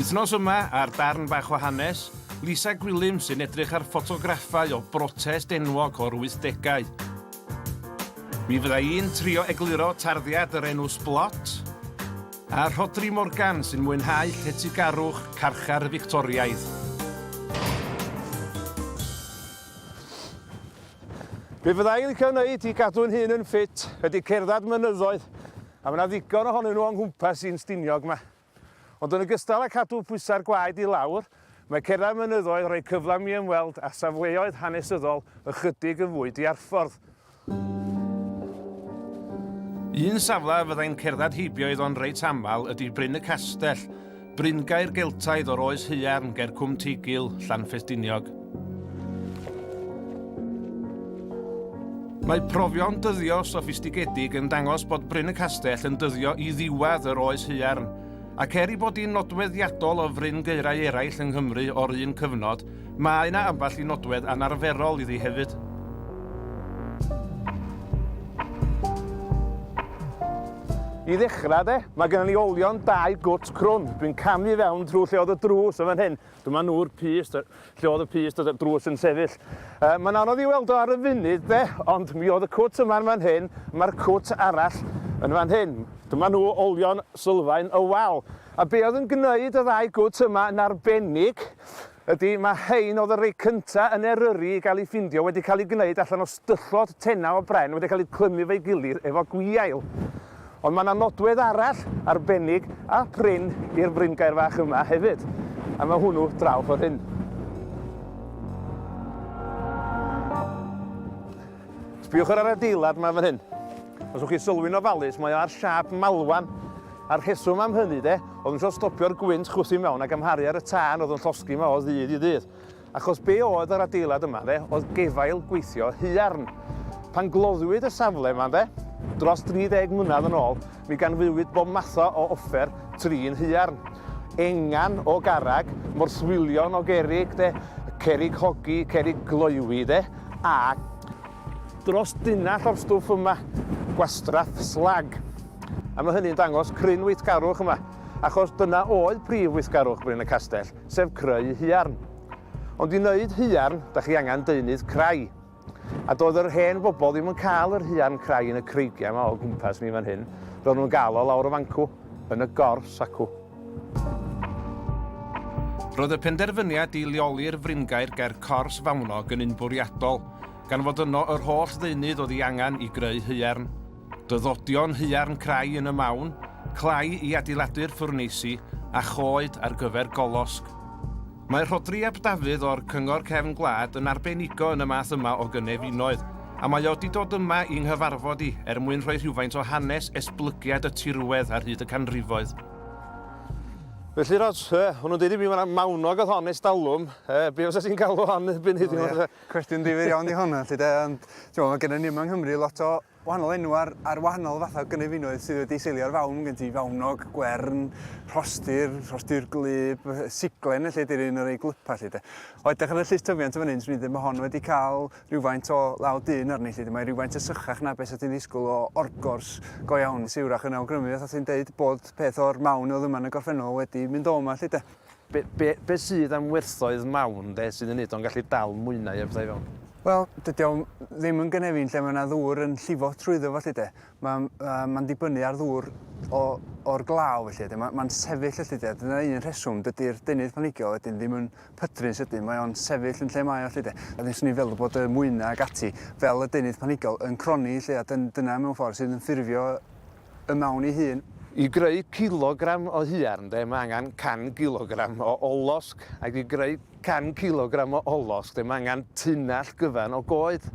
Wythnos yma, ar Darn Bach o Hanes, Lisa Gwilym sy'n edrych ar ffotograffau o brotest enwog o'r wythdegau. Mi fydda i'n trio egluro tarddiad yr enw Sblot, a Rhodri Morgan sy'n mwynhau lletygarwch carchar y Fictoriaidd. Be fydda i'n licio wneud i gadw'n hun yn ffit ydy cerdded mynyddoedd, A mae 'na ddigon ohonyn nhw o'n nghwmpas i'n Stiniog 'ma. Ond yn ogystal â cadw pwysau'r gwaed i lawr, mae cerdded mynyddoedd yn rhoi cyfle i mi ymweld â safleoedd hanesyddol ychydig yn fwy diarffordd. Un safle fyddai'n cerdded heibio iddo'n reit aml ydy Bryn y Castell, Bryngaer Geltaidd o'r oes haearn ger Cwm Teigil, Llanfestiniog. Mae profion dyddio soffistigedig yn dangos bod Bryn y Castell yn dyddio i ddiwedd yr oes haearn, ac er ei bod hi'n nodweddiadol o fryn gaerau eraill yng Nghymru o'r un cyfnod, Mae yna ambell i nodwedd anarferol iddi hefyd. I ddechrau de, mae gennym ni olion dau gwt crwn. Dwi'n camu i fewn trwy lle oedd y drws yn fan hyn. Dyma nhw'r pyst, lle oedd y pyst oedd y drws yn sefyll. Uh, mae'n anodd i weld o ar y funud de, ond mi oedd y cwt yma'n fan hyn, mae'r cwt arall yn fan hyn. Dyma nhw olion sylfaen y wal. A be oedd yn gwneud y ddau gwt yma yn arbennig Ydy, mae rhein oedd y rhai cyntaf yn Eryri i gael eu ffindio wedi cael eu gwneud allan o styllod tenau o bren wedi cael eu clymu efo'i gilydd efo gwiail. Ond mae 'na nodwedd arall arbennig a prin i'r fringaer fach yma hefyd, a mae hwnnw draw ffordd hyn. Sbïwch ar yr adeilad yma fan hyn. Os wch chi sylwi'n ofalus, mae o ar siâp malwan. A'r rheswm am hynny de, oedd yn trio stopio'r gwynt chwythu mewn a gymharu ar y tân oedd yn llosgi yma o ddydd i ddydd. Achos be oedd yr adeilad yma de, oedd gefail gweithio huarn. Pan gloddwyd y safle yma de, dros 30 mlynedd yn ôl, Mi ganfuwyd bob matho o offer trin haearn. Engan o garreg, morthwylion o gerrig 'de, cerrig hogi, cerrig gloywi 'de, a. Dros dunnell o'r stwff yma, gwastraff slag. A mae hynny'n dangos cryn weithgarwch yma, achos dyna oedd prif weithgarwch Bryn y Castell, sef creu haearn. Ond i wneud haearn, da chi angen deunydd crai. A doedd yr hen bobl ddim yn cael yr huan crai yn y creigiau yma o gwmpas ni fan hyn, ro'n nhw'n gael o lawr y fancw, yn y gors acw. Roedd y penderfyniad i leoli'r fringaer ger cors Fawnog yn un bwriadol, gan fod yno yr holl ddeunydd oedd ei angen i greu haearn. Dyddodion haearn crai yn y mawn, clai i adeiladu'r ffwrneisi, a choed ar gyfer golosg. Mae Rhodri ap Dafydd o'r Cyngor Cefn Gwlad yn arbenigo yn y math yma o gynefinoedd, a mae o 'di dod yma i 'nghyfarfod i er mwyn rhoi rhywfaint o hanes esblygiad y tirwedd ar hyd y canrifoedd. Felly Rhod, yy, o'n nhw'n deud i mi ma' 'na mawnog o'dd hon ers talwm, yy, be' fysa ti'n galw hon erbyn heddiw? Cwestiwn difyr iawn 'di hon, felly 'de, ond t'mo' ma' gennon ni yma yng Nghymru lot o wahanol enw ar, ar wahanol fathau o gynefinoedd sydd wedi seilio ar fawn, gen ti fawnog, gwern, rhostir, rhostir glyb, siglen lle di'r un o'r ei glypa lle de. O edrych ar y llys tyfiant yn fan hyn, swn i'n dweud mae hon wedi cael rhywfaint o law dyn arni lle de. Mae rhywfaint y sychach na beth o ti'n ddisgwyl o orgors go iawn siwrach yn awgrymu fath o ti'n dweud bod peth o'r mawn o ddyman y gorffennol wedi mynd o yma lle de. Be, be, be sydd am werthoedd mawn de sydd yn neud o'n gallu dal mwy na un pethau fewn? Wel, dydy o ddim yn gynefin lle mae yna ddŵr yn llifo trwyddo felly de. Mae'n uh, ma dibynnu ar ddŵr o'r glaw felly de. Mae'n ma sefyll felly de. Dyna un rheswm, dydy'r deunydd planigiol wedyn ddim yn pydru'n sydyn. Mae o'n sefyll yn lle mae o felly de. A ddim swn i'n feddwl bod y mwyna ag ati fel y deunydd planigiol yn croni lle a dyn, dyna mewn ffordd sydd yn ffurfio y mawn ei hun. I greu cilogram o huarn de, mae angen 100 cilogram o olosg, ac i greu 100 cilogram o olosg de, mae angen tunnell gyfan o goed.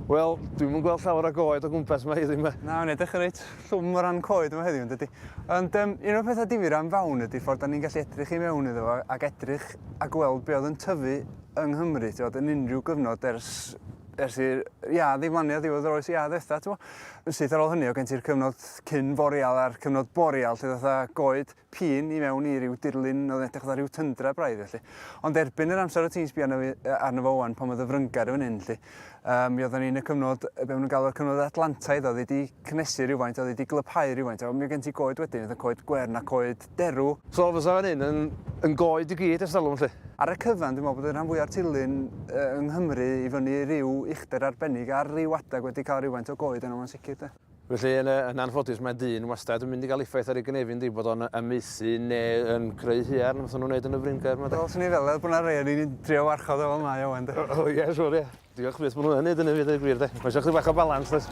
Wel, dwi'm yn gweld llawer o goed o gwmpas yma heddiw yma. Na, mae'n edrych yn reit llwm o ran coed yma heddiw, yn dydy. Ond um, un o'r pethau difyr am fawn ydy ffordd da ni'n gallu edrych i mewn iddo fo ac edrych a gweld be oedd yn tyfu yng Nghymru, ti'n yn unrhyw gyfnod ers ers i'r iâ ddiflannu ar ddiwedd yr oes iâ ddetha, ti'n yn syth ar ôl hynny, o gen ti'r cyfnod cyn boreal a'r cyfnod boreal, lle ddatha goed pîn i mewn i ryw dirlun oedd yn edrych fatha rhyw tyndra braidd felly. Ond erbyn yr amser o ti'n sbio arno, arno fo wan, pan oedd y fryngar yn hyn lle, um, mi oedden ni'n y cyfnod, be maen nhw'n galw'r cyfnod Atlantaidd, oedd wedi cynnesu rhywfaint, oedd wedi glyphau rhywfaint, a mi oedd gen ti goed wedyn, oedd y coed gwern a coed derw. So fysa fan hyn yn yn goed i gyd ers talwm 'lly? Ar y cyfan dwi'n meddwl bod y rhan fwya'r tirlun yng Nghymru i fyny ryw uchder arbennig ar ryw adeg wedi cael rywfaint o goed arno fo'n sicr 'de. Felly yn yn anffodus mae dyn wastad yn mynd i gael effaith ar ei gynefin yndi bod o'n amaethu neu yn creu huarn fatha nhw'n neud yn y Fryn Gaer 'ma 'de? Wel swn i'n feddwl er bod 'na rei o'n i'n trio warchod o fel mae o ŵan 'de? O ie siŵr ie. Diolch byth, maen nhw'n neud yn ymwneud â'r gwir de. Mae eisiau chdi bach o balans does?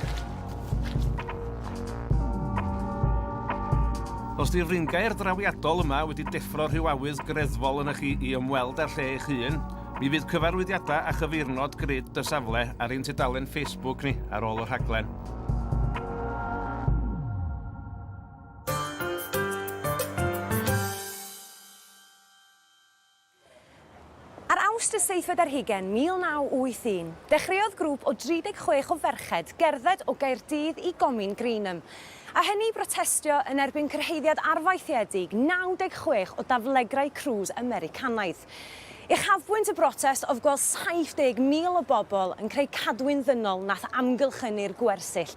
Os di'r fringaer drawiadol yma wedi deffro rhyw awydd greddfol yna chi i ymweld â'r lle eich hun, mi fydd cyfarwyddiadau a chyfeirnod grid y safle ar ein tudalen Facebook ni ar ôl y rhaglen. Ar Awst y seithfed ar hugen 1981, dechreuodd grŵp o 36 o ferched gerdded o Gaerdydd i Gomin Greenham, a hynny i brotestio yn erbyn cyrhaeddiad arfaethiedig 96 o daflegrau crwys Americanaidd. Uchafbwynt y brotest oedd gweld 70,000 o bobl yn creu cadwyn ddynol nath amgylchynu'r gwersyll.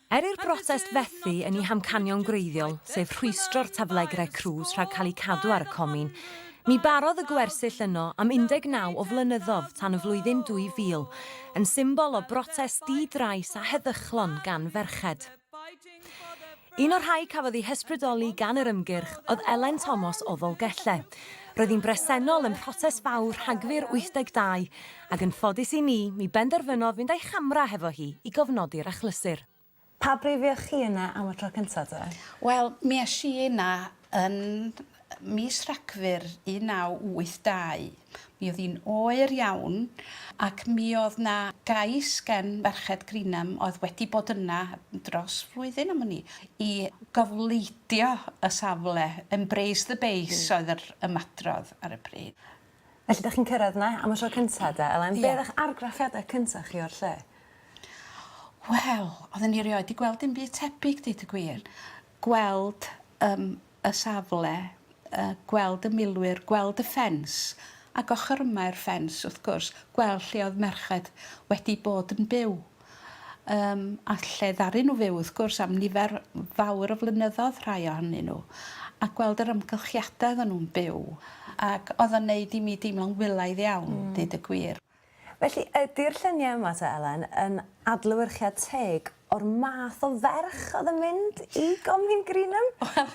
Er i'r brotest fethu yn ei hamcanion gwreiddiol, sef rhwystro'r taflegrau crws rhag cael eu cadw ar y comin, ni barodd y gwersyll yno am 19 o flynyddodd tan y flwyddyn 2000, yn symbol o brotest di-drais a heddychlon gan ferched. Un o'r rhai cafodd eu hysbrydoli gan yr ymgyrch oedd Elen Tomos o Ddolgellau. Roedd hi'n bresennol ym mhrotest fawr Rhagfyr 82, Ac yn ffodus i ni, mi benderfynodd fynd a'i chamera hefo hi i gofnodi'r achlysur. Pa bryd fuoch chi yna am y tro cynta te? Wel, mi es i yna yn mis Rhagfyr 1982. Mi oedd hi'n oer iawn ac mi oedd 'na gais gen Ferched Greenham oedd wedi bod yna dros flwyddyn am wn i, i gofleidio y safle, 'embrace the base' oedd yr ymadrodd ar y pryd. Felly 'dach chi'n cyrradd 'na am y tro cynta 'de Elen? Ie. Be' o'dd 'ych argraffiada cynta chi o'r lle? Wel odden ni erioed 'di gweld dim byd tebyg deud y gwir. Gweld yym y safle yy gweld y milwyr gweld y ffens ag ochor yma i'r ffens wrth gwrs gweld lle oedd merched wedi bod yn byw. Yym, a lle ddaru nhw fyw, wrth gwrs, am nifer fawr o flynyddoedd, rhai ohonyn nhw, a gweld yr amgylchiadau oedden nhw'n byw, ac oedd o'n wneud i mi deimlo'n wylaidd iawn, deud y gwir. Felly, ydi'r lluniau yma te, Elen, yn adlewyrchiad teg o'r math o ferch oedd yn mynd i Gomin Greenham? Wel,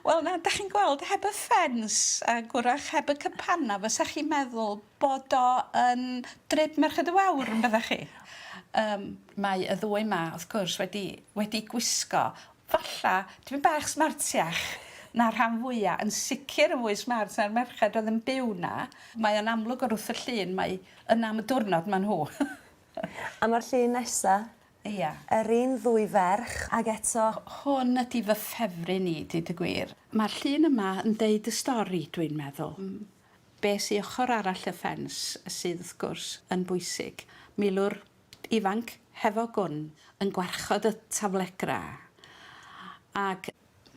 wel, na, 'dach chi'n gweld, heb y ffens, ac wrach heb y cypannau, fysa chi'n meddwl bod o yn drip Merched y Wawr yn bydda chi. Yym mae y ddwy 'ma wrth gwrs wedi wedi gwisgo falla dipyn bach smartiach na'r rhan fwya, yn sicr yn fwy smart na'r merched oedd yn byw 'na. Mae o'n amlwg o'r wrth y llun mai yna am y diwrnod ma' nhw. A ma'r llun nesa? Ia. Yr un ddwy ferch ag eto. Hwn ydi fy ffefryn i deud y gwir. Ma'r llun yma yn deud y stori dwi'n meddwl. Be sy ochr arall y ffens, sydd wrth gwrs yn bwysig. Milwr ifanc hefo gwn yn gwarchod y taflegra ac.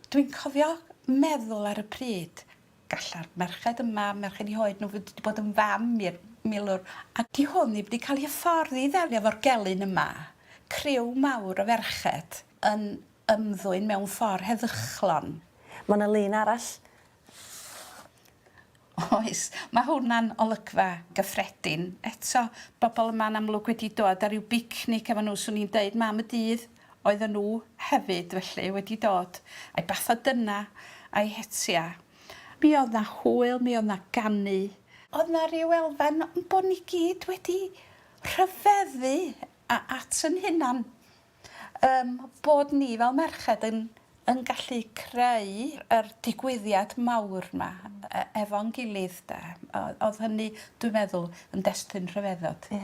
Dwi'n cofio meddwl ar y pryd, galla'r merched yma, merched i hoed nhw fod wedi bod yn fam i'r milwr a. Di hwn ddim di cael ei hyfforddi i ddelio efo'r gelyn yma. Criw mawr o ferched yn ymddwyn mewn ffordd heddychlon. Ma' 'na lun arall Oes, mae hwnna'n olygfa gyffredin. Eto, bobl yma'n amlwg wedi dod ar ryw bicnic efo nhw, 'swn i'n deud, mam y dydd oedden nhw hefyd, felly, wedi dod a'i bath o dyna a'i hetia. Mi oedd 'na hwyl, mi oedd 'na ganu. Oedd 'na ryw elfen o'n bod ni gyd wedi rhyfeddu at 'yn hunan. Ym bod ni fel merched yn yn gallu creu yr digwyddiad mawr 'ma e- efo'n gilydd 'de. O- o'dd hynny dwi'n meddwl yn destun rhyfeddod. Ie.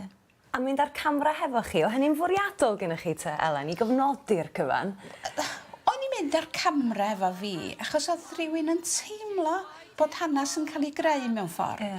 A mynd â'r camra hefo chi, o' hynny'n fwriadol gynnoch chi 'te Elen, i gofnodi'r cyfan? O'n i'n mynd â'r camra efo fi achos o'dd rhywun yn teimlo bod hanas yn ca'l 'i greu mewn ffor. Ie.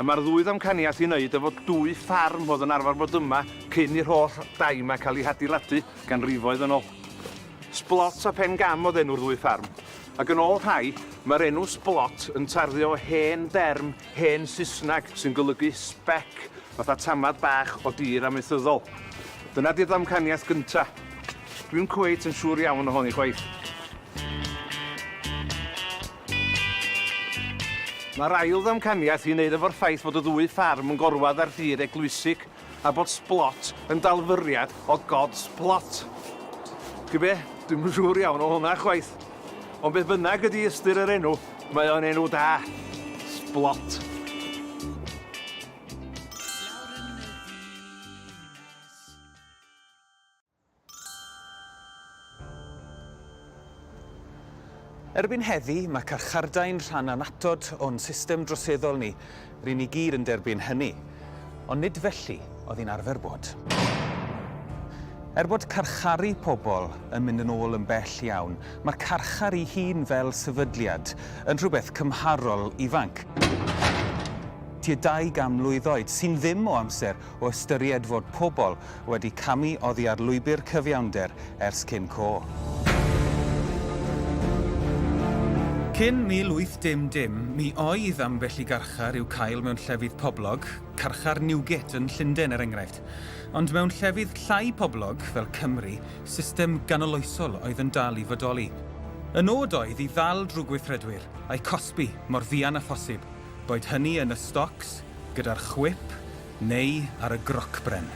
A mae'r ddwy ddamcaniaeth i wneud efo dwy ffarm oedd yn arfer bod yma cyn i'r holl dai 'ma cael eu hadeiladu ganrifoedd yn ôl. Sblot a Phen Gam oedd enw'r ddwy ffarm, ac yn ôl rhai, mae'r enw Sblot yn tarddu o hen derm hen Saesneg sy'n golygu spec, fatha tamad bach o dir amaethyddol. Dyna 'di'r ddamcaniaeth gynta'. Dwi'm cweit yn siŵr iawn ohoni chwaith. Mae'r ail ddamcaniaeth i wneud efo'r ffaith fod y ddwy ffarm yn gorwedd ar dir eglwysig a bod Sblot yn dalfyriad o God's Plot. Chi be, dwi'm yn siŵr iawn o hwnna chwaith. Ond beth bynnag ydy ystyr yr enw, mae o'n enw da. Sblot. Erbyn heddi, mae carchardai'n rhan annatod o'n system droseddol ni, ry'n ni gyd yn derbyn hynny. Ond nid felly oedd hi'n arfer bod. Er bod carcharu pobl yn mynd yn ôl yn bell iawn, mae'r carchar ei hun fel sefydliad yn rhywbeth cymharol ifanc, tua dau gan mlwydd oed, sy'n ddim o amser, o ystyried fod pobl wedi camu oddi ar lwybr cyfiawnder ers cyn co. Cyn 1810, mi oedd ambell i garchar i'w cael mewn llefydd poblog, carchar Newgate yn Llundain er enghraifft. Ond mewn llefydd llai poblog, fel Cymru, system ganoloesol oedd yn dal i fodoli. Y nod oedd i ddal drwy gweithredwyr, a'u cosbi mor fuan â phosib. boed hynny yn y stocs, gyda'r chwip neu ar y grocbren.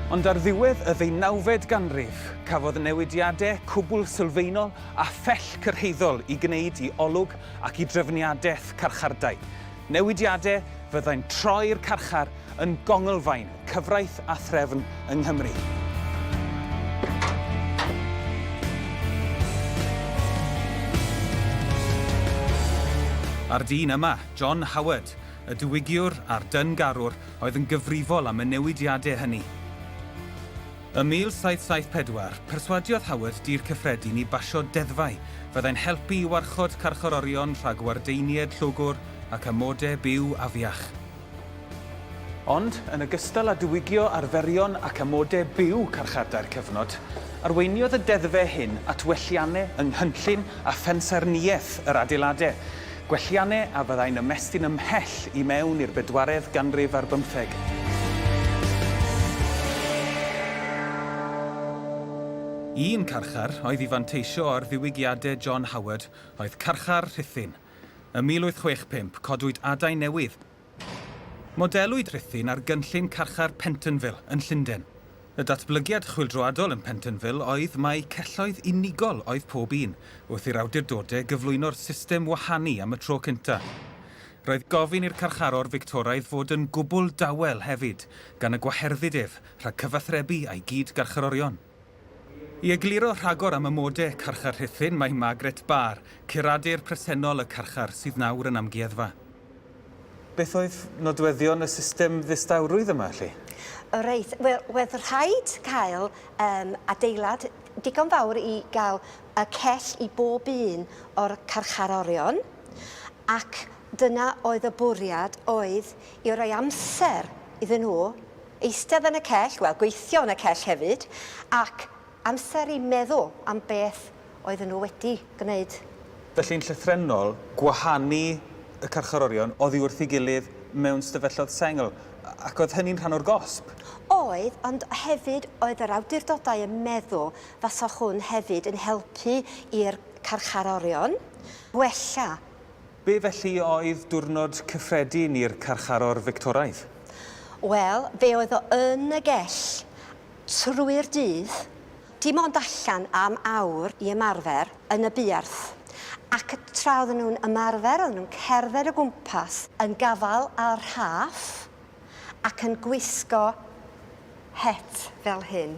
Ond ar ddiwedd y ddeunawfed ganrif, cafodd newidiadau cwbl sylfaenol a phell cyrhaeddol i gwneud i olwg ac i drefniadaeth carchardai. Newidiadau fyddai'n troi'r carchar yn gonglfaen cyfraith a threfn yng Nghymru. A'r dyn yma, John Howard, y diwygiwr a'r dyn-garwr oedd yn gyfrifol am y newidiadau hynny. Ym 1774, perswadiodd Howard Dŷ'r Cyffredin i basio deddfau fyddai'n helpu i warchod carcharorion rhag wardeinied llwgwr ac amodau byw afiach. Ond, yn ogystal â diwygio arferion ac amodau byw carchardai'r cyfnod, arweiniodd y deddfau hyn at welliannau yng nghynllun a phensaernïaeth yr adeiladau, Gwelliannau a fyddai'n ymestyn ymhell i mewn i'r bedwaredd ganrif ar bymtheg. Un carchar oedd i fanteisio ar ddiwygiadau John Howard oedd carchar Rhuthun. Ym 1865, codwyd adain newydd, Modelwyd Rhuthun ar gynllun carchar Pentonville yn Llundain. Y datblygiad chwyldroadol yn Pentonville oedd mai celloedd unigol oedd pob un, wrth i'r awdurdodau gyflwyno'r system wahanu am y tro cyntaf. Roedd gofyn i'r carcharor Fictoraidd fod yn gwbl dawel hefyd, gan y gwaherddiad ef rhag cyfathrebu â'i gyd-garcharorion. I egluro rhagor am amode carchar Rhuthun mae Margaret Barr, curadur presennol y carchar sydd nawr yn amgueddfa. Beth oedd nodweddion y system ddistawrwydd yma 'lly? O reit, wel wedd rhaid cael yym adeilad digon fawr i gael y cell i bob un o'r carcharorion ac dyna oedd y bwriad oedd i roi amser iddyn nhw Eistedd yn y cell, wel, gweithio yn y cell hefyd, ac amser i meddwl am beth oedden nhw wedi gwneud. Felly'n llythrennol, gwahanu y carcharorion oddi wrth ei gilydd mewn stafelloedd sengl, ac oedd hynny'n rhan o'r gosb? Oedd, ond hefyd oedd yr awdurdodau yn meddwl faswch hwn hefyd yn helpu i'r carcharorion wella. Be felly oedd diwrnod cyffredin i'r carcharor Fictoraidd? Wel, fe oedd o yn y gell trwy'r dydd, dim ond allan am awr i ymarfer yn y buarth, ac tra oedden nhw'n ymarfer oedden nhw'n cerdded o gwmpas yn gafael â'r rhaff, ac yn gwisgo het fel hyn.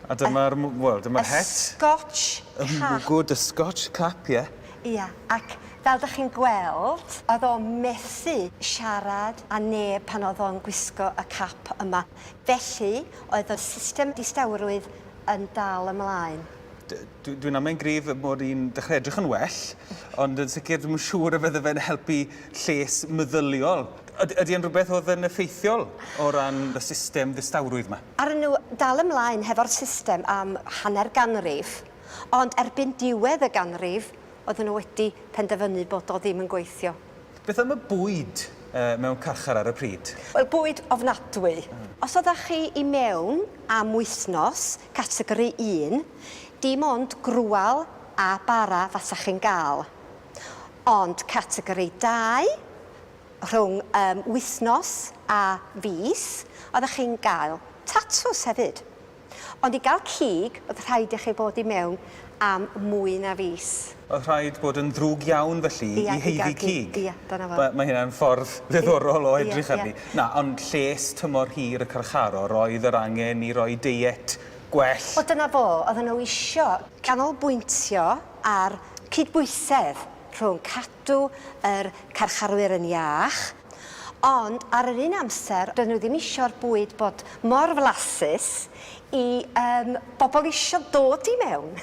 A dyma'r, wel, dyma'r het. Y Scotch cap. Y mwgwd, y Scotch cap, ie. Ia, ac fel dych chi'n gweld, oedd o methu siarad â neb pan oedd o'n gwisgo y cap yma. Felly, oedd y system distawrwydd yn dal ymlaen. Dwi'n amau'n gryf mod i'n dechrau edrych yn well, ond yn sicr dwi'm yn siŵr y fydde fe'n helpu lles meddyliol. Ydy, ydy e'n rhywbeth oedd yn effeithiol o ran y system ddistawrwydd yma? Aru nhw dal ymlaen hefo'r system am hanner ganrif, ond erbyn diwedd y ganrif oedden nhw wedi penderfynu bod o ddim yn gweithio. Beth am y bwyd mewn carchar ar y pryd? Wel, bwyd ofnadwy. Os oeddach chi i mewn am wythnos, categori un, dim ond grwal a bara fasach chi'n gael. Ond categori dau, rhwng um, wythnos a fis, oeddech chi'n gael tatws hefyd. Ond i gael cig, oedd rhaid i chi fod i mewn am mwy na fis. Oedd rhaid bod yn ddrwg iawn felly ia, i heiddi cig. Ia, dyna fo. Mae, mae hynna'n ffordd ddiddorol o edrych ia, arni. Na, ond lles tymor hir y carcharor, roedd yr angen i roi deiet gwell. O, dyna fo, oedden nhw isio canolbwyntio ar cydbwysedd rhwng Dw yr carcharwyr yn iach, ond ar yr un amser doedd nhw ddim isio'r bwyd bod mor flasus i yym bobl isio dod i mewn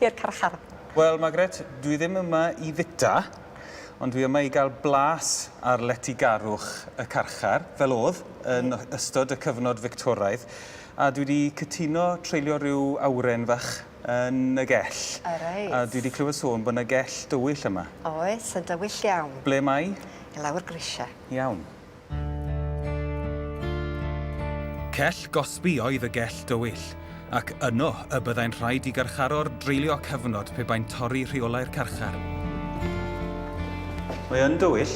i'r carchar. Wel, Margaret, dwi ddim yma i fita, ond dwi yma i gael blas ar letygarwch y carchar, fel oedd yn ystod y cyfnod Fictoraidd, a dwi 'di cytuno treulio rhyw awren fach yn y gell. O reit. A dwi 'di clywed sôn bod 'na gell dywyll yma. Oes, yn dywyll iawn. Ble mae? I lawr grisia. Iawn. Cell gosbi oedd y gell dywyll, ac yno y byddai'n rhaid i garcharor dreulio cyfnod pe bai'n torri rheolau'r carchar. Mae yn dywyll.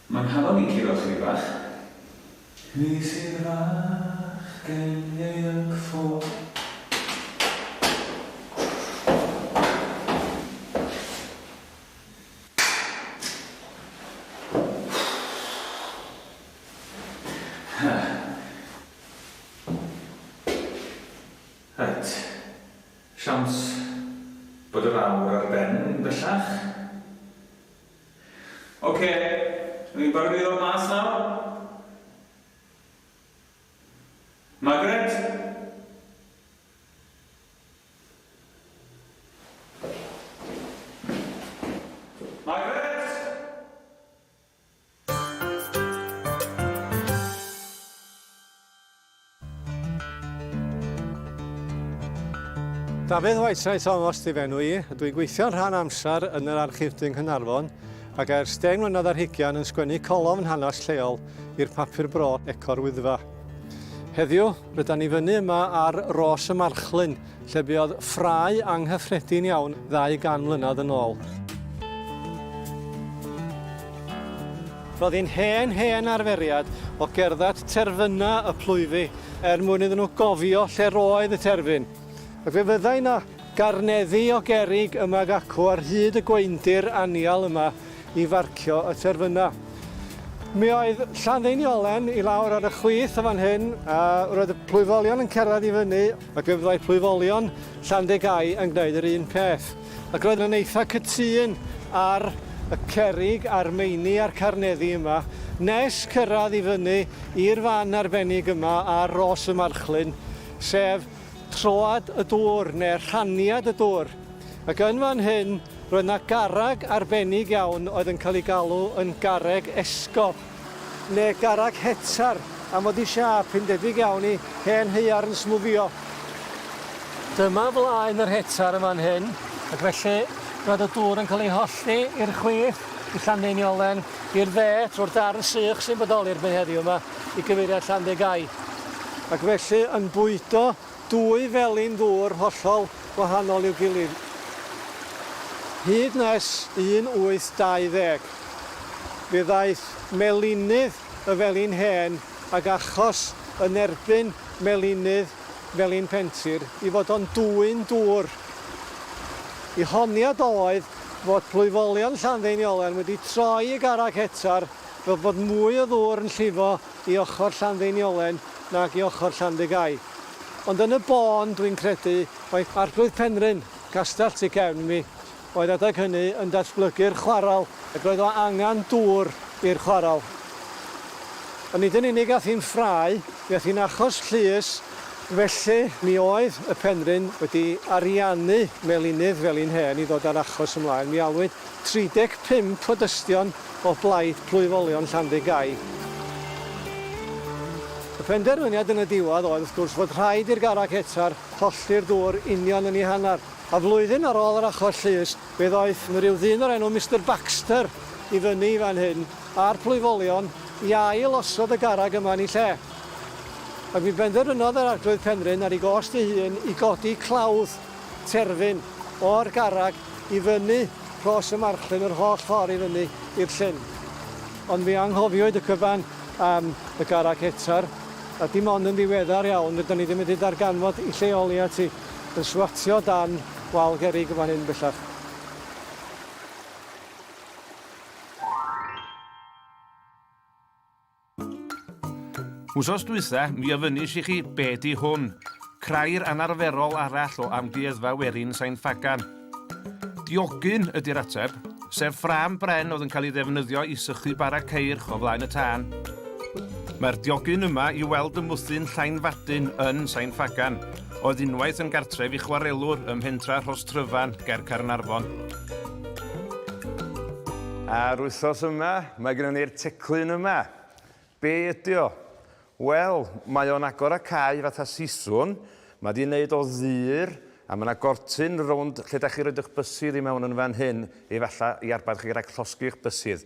Mae nghalon i'n curo chydig bach. Nes i'r fachgen ieuanc ffôn. Reit, siawns bod yr awr ar ben bellach. Ocê, dw i'n barod i ddod mas nawr. Margaret? Margaret? Dafydd Whiteside Thomas di fenw i, dwi'n gweithio'n rhan amser yn yr Archif Dŷ Nghaernarfon ac ers deng mlynedd ar hugain yn sgwennu colofn hanes lleol i'r papur bro Eco'r Wyddfa. Heddiw, rydan ni fyny yma ar Ros y Marchlyn, lle buodd ffrae anghyffredin iawn ddau gan mlynedd yn ôl. Roedd hi'n hen, hen arferiad o gerdded terfynau y plwyfi er mwyn iddyn nhw gofio lle roedd y terfyn. Ac fe fyddai yna garneddi o gerrig yma ac acw ar hyd y gweindir anial yma i farcio y terfynau. Mi oedd Llanddeiniolen i lawr ar y chwith o fan hyn a roedd y plwyfolion yn cerdded i fyny Ac fe fyddai plwyfolion Llandegau yn gwneud yr un peth. Ac roedd yn eitha cytûn ar y cerrig a'r meini a'r carneddi yma, nes cyrraedd i fyny i'r fan arbennig yma ar Ros y Marchlyn, sef troad y dŵr, neu rhaniad y dŵr. Ac yn fan hyn, roedd 'na garreg arbennig iawn oedd yn cael ei galw yn Garreg Esgob. Ne garreg hetar am fod i siâp hi'n debyg iawn i hen haearn smwgio. Dyma flaen yr hetar yn fan hyn, ac felly roedd y dŵr yn cael ei hollti i'r chwith, i Llandeiniolen, i'r dde, trwy'r darn sych sy'n bodoli'r byd heddiw yma, i gyfeiriad Llandegau. Ac felly yn bwydo Dwy felin ddŵr hollol wahanol i'w gilydd. Hyd nes un 820, fe ddaeth melinydd y felin hen ag achos yn erbyn melinydd felin Pentir i fod o'n dwyn dŵr. Y honiad oedd fod plwyfolion Llanddeiniolen wedi troi y garreg hetar fel bod mwy o ddŵr yn llifo i ochr Llanddeiniolen nag i ochr Llandygai. Ond yn y bôn, dwi'n credu mai Arglwydd Penrhyn, Castell tu cefn mi, oedd adeg hynny yn datblygu'r chwarel ac roedd o angen dŵr i'r chwarel. A nid yn unig ath hi'n ffrae, mi ath hi'n achos llys, felly mi oedd y Penrhyn wedi ariannu melinydd fel un hen i ddod â'r achos ymlaen, mi alwyd 35 o dystion o blaid plwyfolion Llanddugau. Y penderfyniad yn y diwedd oedd wrth gwrs fod rhaid i'r garreg hetar hollti'r dŵr union yn ei hanner, a flwyddyn ar ôl yr achos llys fe ddoeth 'na ryw ddyn o'r enw Mister Baxter i fyny i fan hyn a'r plwyfolion i ail osod y garreg yma yn ei lle. Ac mi benderfynodd yr Arglwydd Penrhyn ar ei gost ei hun i godi clawdd terfyn o'r garreg i fyny Rhos y Marchlyn yr holl ffordd i fyny i'r llyn. Ond mi anghofiwyd y cyfan am y garreg hetar, a dim ond yn ddiweddar iawn rydan ni 'di medru darganfod 'i lleoli at 'i yn swatio o dan wal gerrig yn fan hyn bellach. Wsos dwytha, mi ofynis i chi be di hwn? Crair anarferol arall o Amgueddfa Werin Sain Ffagan. Diogyn ydi'r ateb, sef ffrâm bren oedd yn cael ei ddefnyddio i sychu bara ceirch o flaen y tân. Mae'r diogyn yma i weld ym mwthyn Llainfadyn yn Sain Ffagan, oedd unwaith yn gartref i chwarelwr ym Mhentra Rhostryfan, ger Caernarfon. A'r wythnos yma, mae gennym ni'r teclyn yma. Be ydy o? Wel, mae o'n agor a cau fatha siswrn, mae di'n neud o ddur, a mae yna gortyn rownd lle da chi roed eich bysydd i mewn yn fan hyn, efallai i arbad chi rhag llosgi'ch bysydd.